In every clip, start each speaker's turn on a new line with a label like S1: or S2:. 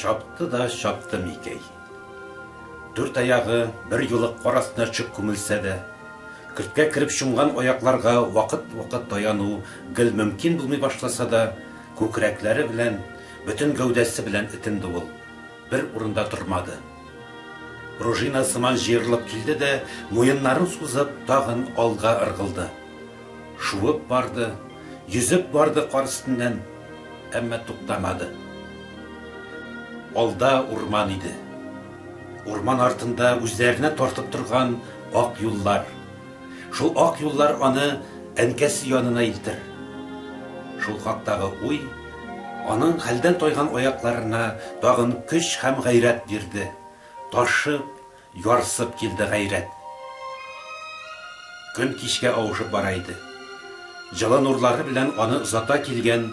S1: чапты да чапты микәй дүрт аяғы бер юлы кар астына төшеп күмелсә дә көрткә кереп чумган аякларга вакыт вакыт таяну гел мөмкин булмый башласа да күкрәкләре белән бөтен гәүдәсе белән этенде ул Бер урында тормады. Пружина сыман җыерылып килде дә, муеннарын сузып, тагын алга ыргылды. Шуып барды, йөзеп барды кар өстеннән, әмма туктамады. Алда урман иде. Урман артында үзләренә тартып торган ак юллар. Шул ак юллар аны әнкәсе янына илтер. Шул хактагы уй аның хәлдән тайган аякларына тагын көч һәм гайрәт бирде. Ташып, ярсып килде гайрәт. Көн кичкә авышып бара иде. Җылы нурлары белән аны озата килгән,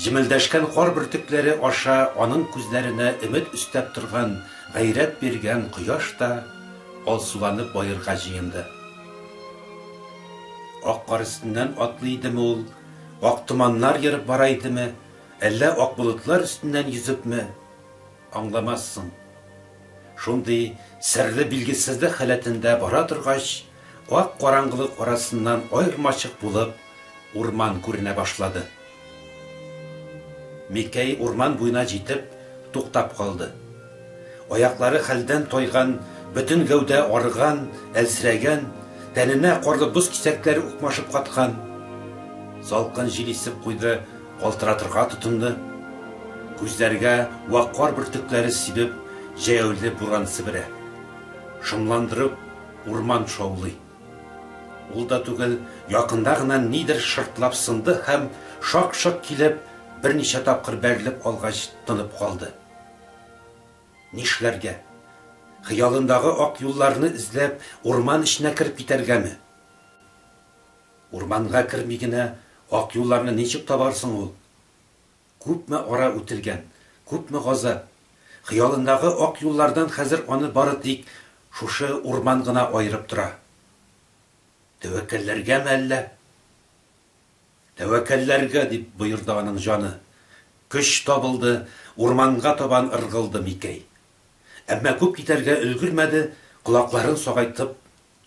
S1: җемелдәшкән кар бөртекләре аша аның күзләренә өмет өстәп торган, гайрәт биргән кояш та Ал суланып баерга җыенды. Ак кар өстеннән атлый идеме ул, ак томаннар ерып бара идеме, әллә ак болытлар өстеннән йөзепме, аңламассың. Шундый серле билгесезлек халәтендә бара торгач, ак караңгылык арасыннан аермачык булып, урман күренә башлады. Микәй урман буена җитеп, туктап калды. Аяклары хәлдән тайган, бөтен гәүдә арыган, әлсерәгән, тәненә карлы боз кисәкләре укмашып каткан. Салкын җил исеп куйды, калтыратырга тотынды. Күзләргә вак кар бөртекләре сибеп, җәяүле буран себерә. Шомландырып, урман шаулый. Ул да түгел, якында гына нидер шыртлап сынды һәм, шак-шок килеп, берничә тапкыр бәрелеп алгач, тынып калды. Нишләргә? Хыялындагы ак юлларны эзләп, урман эченә кереп китәргәме? Урманга керми генә, ак юлларны ничек табар соң ул? Күпме ара үтелгән, күпме газап! Хыялындагы ак юллардан хәзер аны бары тик шушы урман гына аерып тора. Тәвәккәлләргәме әллә? Тәвәккәлләргә! дип боерды аның җаны. Көч табылды, урманга табан ыргылды Микәй. Әмма күп китәргә өлгермәде, колакларын сагайтып,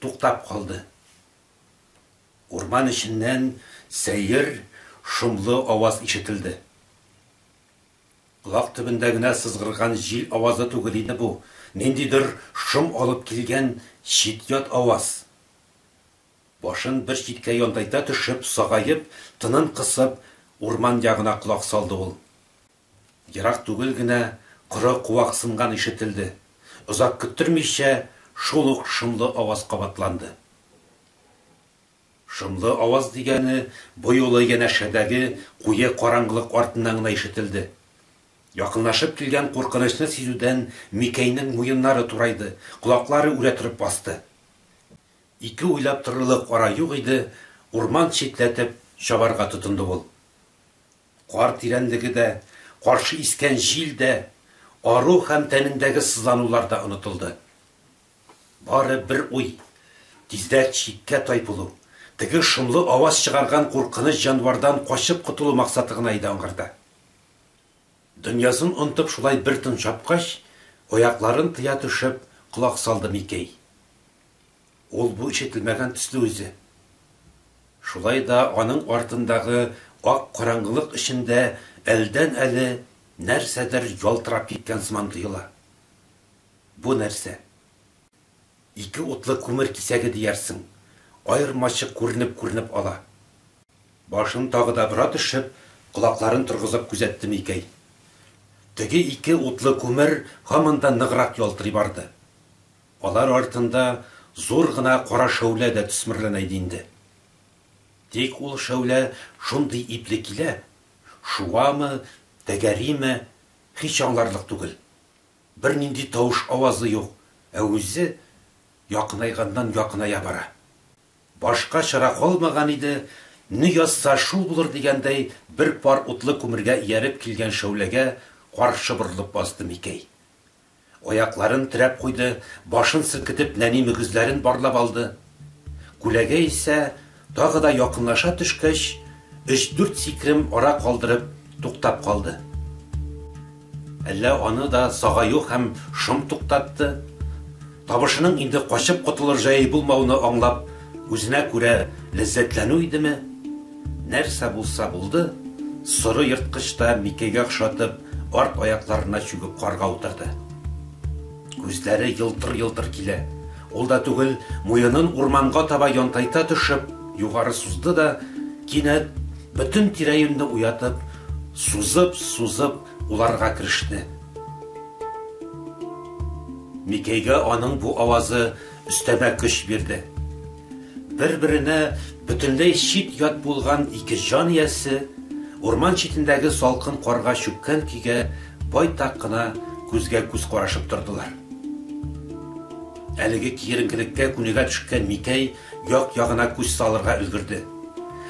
S1: туктап калды. Урман эченнән сәер, шомлы аваз ишетелде. Колак төбендә генә сызгырган җил авазы түгел иде бу, ниндидер шом алып килгән чит-ят аваз. Башын бер читкә янтайта төшеп, сагаеп, тынын кысып, урман ягына колак салды ул. Ерак түгел генә коры куак сынган ишетелде. Озак көттермичә, шул ук шомлы аваз кабатланды. Шомлы аваз дигәне бу юлы янәшәдәге куе караңгылык артыннан гына ишетелде. Якынлашып килгән куркынычны сизүдән Микәйнең муеннары турайды, колаклары үрә торып басты. Ике уйлап торырлык ара юк иде, урман читләтеп чабарга тотынды ул. Кар тирәнлеге дә, каршы искән җил дә, ару һәм тәнендәге сызланулар да онытылды. Бары бер уй, тиздән чиккә тай булу, теге шомлы аваз чыгарган куркыныч җанвардан качып котылу максаты гына иде аңарда. Дөньясын онытып шулай бер тын чапкач, аякларын тыя төшеп, колак салды Микәй. Ул бу ишетелмәгән төсле үзе. Шулай да аның артындагы ак караңгылык эчендә әлдән-әле нәрсәдер ялтырап киткән сыман тоела. Бу нәрсә? Ике утлы күмер кисәге диярсең, аермачык күренеп-күренеп ала. Башын тагы да бора төшеп, колакларын торгызып күзәтте Микәй. Теге ике утлы күмер һаман да ныграк ялтырый барды. Алар артында зур гына кара шәүлә дә төсмерләнә иде инде. Тик ул шәүлә шундый ипле килә, шуамы, тәгәриме, һич аңларлык түгел. Бернинди тавыш авазы юк, ә үзе якынайганнан якыная бара. Башка чара калмаган иде, не язса шул булыр дигәндәй бер пар утлы күмергә ияреп килгән шәүләгә каршы борылып базды Микәй. Аякларын терәп куйды, башын селкетеп нәни мөгезләрен барлап алды. Күләгә исә, тагы да якынлаша төшкәч, өч-дүрт сикрем ара калдырып, туктап калды. Әллә аны да сагаю һәм шом туктатты? Табышының инде качып котылыр җае булмауны аңлап, үзенә күрә ләззәтләнү идеме, нәрсә булса булды, соры ерткыч та Микәйгә охшатып, арт аякларына чүгеп карга утырды. Күзләре елтыр-елтыр килә. Ул да түгел, муенын урманга таба янтайта төшеп, югары сузды да, кинәт, бөтен тирә-юньне уятып, сузып-сузып, Уларга кереште. Микәйгә аның бу авазы өстәмә көч бирде. Бер-беренә бөтенләй чит-ят булган ике җан иясе урман читендәге салкын карга чүккән көйгә байтак кына күзгә-күз карашып тордылар. Әлеге киеренкелеккә күнегә төшкән Микәй Як-ягына күз салырга өлгерде.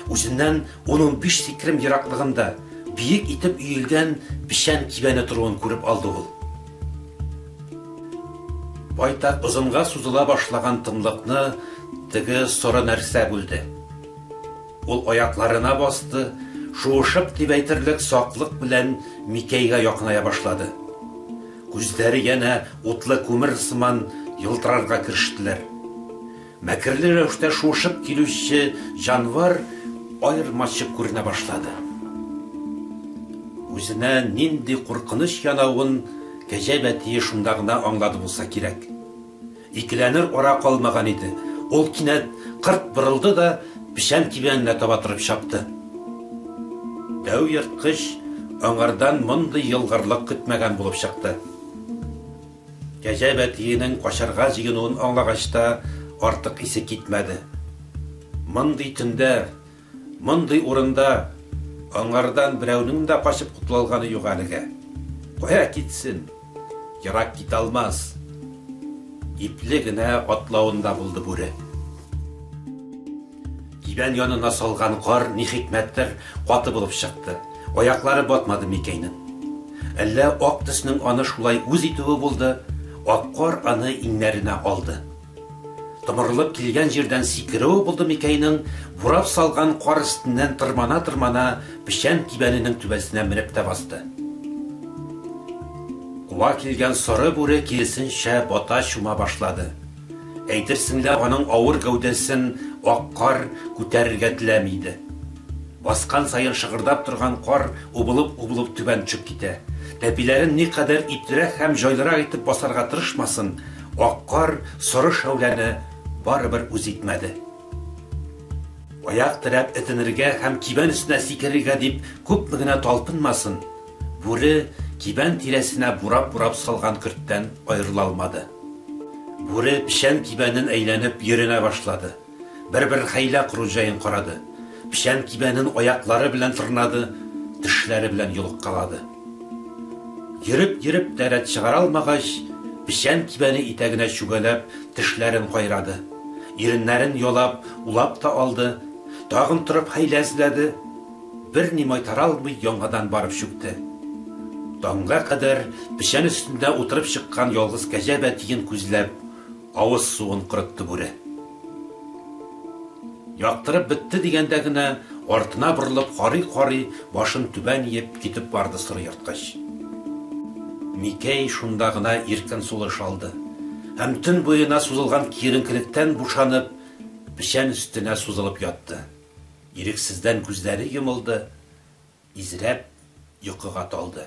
S1: Үзеннән ун-унбиш сикрем ераклыгында биек итеп өелгән печән кибәне торуын күреп алды ул. Байтак озынга сузыла башлаган тынлыкны теге соры нәрсә бүлде. Ул аякларына басты, шуышып дип әйтерлек саклык белән Микәйгә якыная башлады. Күзләре янә утлы күмер сыман елтырарга керештеләр. Мәкерле рәвештә шуышып килүче җанвар аермачык күренә башлады. Үзенә нинди куркыныч янавын Кәҗә бәтие шунда гына аңлады булса кирәк. Икеләнер ара калмаган иде, ул кинәт кырт борылды да печән кибәненә таба торып чапты. Дәү ерткыч аңардан мондый елгырлык көтмәгән булып чыкты. Кәҗә бәтиенең качарга җыенуын аңлагач та, артык исе китмәде. Мондый төндә, мондый урында аңардан берәүнең дә качып котылалганы юк әлегә. Кая китсен? Ерак китә алмас! Ипле генә атлавында булды бүре. Кибән янына салган кар ни хикмәттер каты булып чыкты. Аяклары батмады Микәйнең. Әллә ак төснең аны шулай үз итүе булды, ак кар аны иңнәренә алды. Томырылып килгән җирдән сикерүе булды Микәйнең, бурап салган кар өстеннән тырмана-тырмана печән кибәненең түбәсенә менеп тә басты. Куа килгән соры бүре киресенчә бата-чума башлады. Әйтерсең лә аның авыр гәүдәсен ак кар күтәрергә теләми иде. Баскан саен шыгырдап торган кар убылып-убылып түбән төшеп китә. Тәпиләрен никадәр иплерәк һәм җайлырак итеп басарга тырышмасын, ак кар соры шәүләне барыбер үз итмәде. Аяк терәп этенергә һәм кибән өстенә сикерергә дип күпме генә талпынмасын, Бүре кибән тирәсенә бурап-бурап салган көрттән аерыла алмады. Бүре печән кибәнен әйләнеп йөренә башлады. Бер-бер хәйлә кору җаен карады. Печән кибәнен аяклары белән тырнады, тешләре белән йолыккалады. Йөреп-йөреп тә рәт чыгара алмагач, печән кибәне итәгенә чүгәләп, тешләрен кайрады. Иреннәрен ялап, улап та алды. Тагын торып хәйлә эзләде. Берни майтара алмый яңадан барып чүкте. Таңга кадәр печән өстендә утырып чыккан ялгыз кәҗә бәтиен күзләп, авыз суын корытты бүре. Яктырып бетте дигәндә генә, артына борылып карый-карый, башын түбән иеп, китеп барды соры ерткыч. Микәй шунда гына иркен сулыш алды һәм төн буена сузылган киеренкелектән бушанып, печән өстенә сузылып ятты. Ирексездән күзләре йомылды, изрәп, йокыга талды.